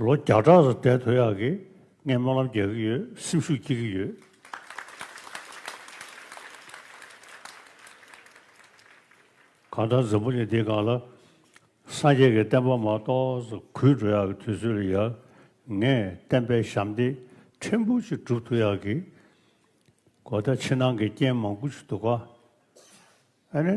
ལོ་བརྒྱ་ཕྲག་རེ་བསྡད་དོ་ཡག་གི། ངས་སྨོན་ལམ་རྒྱག་གི་ཡོད་སེམས་ཤུགས་སྐྱེ་གི་ཡོད། གང་ལྟར་འཛམ་བུ་གླིང་འདི་གང་ལ་སངས་རྒྱས་ཀྱི་བསྟན་པ་མ་གཏོགས་གུད་འགྲོ་ཡག་གི་དུས་ཚོད་ལ་ཡག། ངས་བསྟན་པའི་ཞབས་འདེགས་ཕྲན་བུ་ཅིག་བསྒྲུབ་ཐུབ་ཡག་གི། གོ་བརྡ་ཕྱི་ནང་གི་རྐྱེན་མང་པོ་ཞིག་འདུག་ག། ཨ་ནི།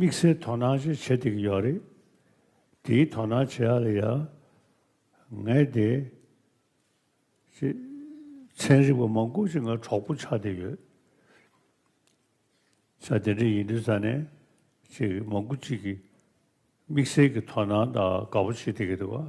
དམིགས་བསལ་དོ་སྣང་ཅིག་བྱེད་བསྡད་ཀྱི་ཡོད་རེད། དེའི་དོ་སྣང་བྱེད་ཡ་ལ་ཡ། ངས་དེ། ཅེས། ཚན་རིག་པ་མང་སྐོར་ཅིག་ང་གྲོགས་པོ་ཆགས་བསྡད་ཡོད། ཆ་དེ་འདྲ་ཡིན་དུས་ས་གནས་ཅིག་མང་པོ་ཅིག་གིས་དམིགས་བསལ་གྱི་དོ་སྣང་དང་དགའ་པོ་བྱེད་བསྡད་ཀྱི་འདུག་ག།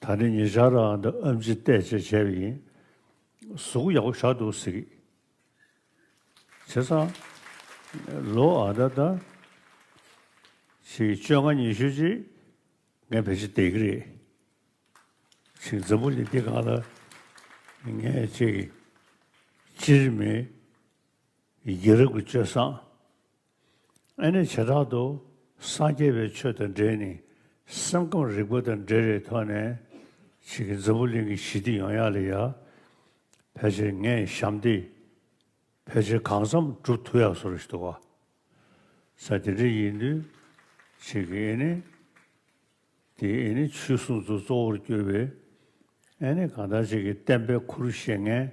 ད་ནི་ཉེ་ཆར་རང་དང་ཨ་མཆིས་བལྟས་བཅས་བྱས་པ་ཡིན། གཟུགས་ཡག་པོ་ཆགས་འདུག་ཟེར་གི། བྱས་ཙང། ལོ་ཨ་ད་ལྟ། ཕྱི་བཅོ་ལྔ་ཉི་ཤུ་རྗེས་ངས་བེད་སྤྱོད་བསྡད་གི་རེད། ཕྱི་འཛམ་བུ་གླིང་འདི་གང་ལ་ངས་བཅོལ་གི། སྤྱིར་མི། སྒེར་རབ་ཀྱི་སྤྱོད་བཟང། ཨེ་ནི་བྱེ་བྲག་ཏུ་སངས་རྒྱས་པའི་ཆོས་དང་འབྲེལ་ནི་སེམས་ཁམས་རིག་པ་དང་འབྲེལ་རེད་ཐོག་ནས་བྱེད་ཀྱི་འཛམ་བུ་གླིང་གི་ཞི་བདེ་ཡོང་ཡག་ལས་ཡག་ཕལ་ཆེར་ངས་བཞམས་ཏེ་ཕལ་ཆེར་གང་བསམ་བསྒྲུབ་ཐུབ་ཡག་བཟོ་རེ་ཞུ་བ་ས་དེ་འདྲ་ཡིན་དུས་བྱེད་ཀྱི་ཨེ་ནི་དེ་ཨེ་ནི་ཆོས་སྲུང་ཚོ་གཙོ་བོར་གྱུར་པའི་ཨེ་ནི་གང་ལྟར་བྱེད་ཀྱི་བསྟན་པའི་ཁུར་བཞེས་ངན།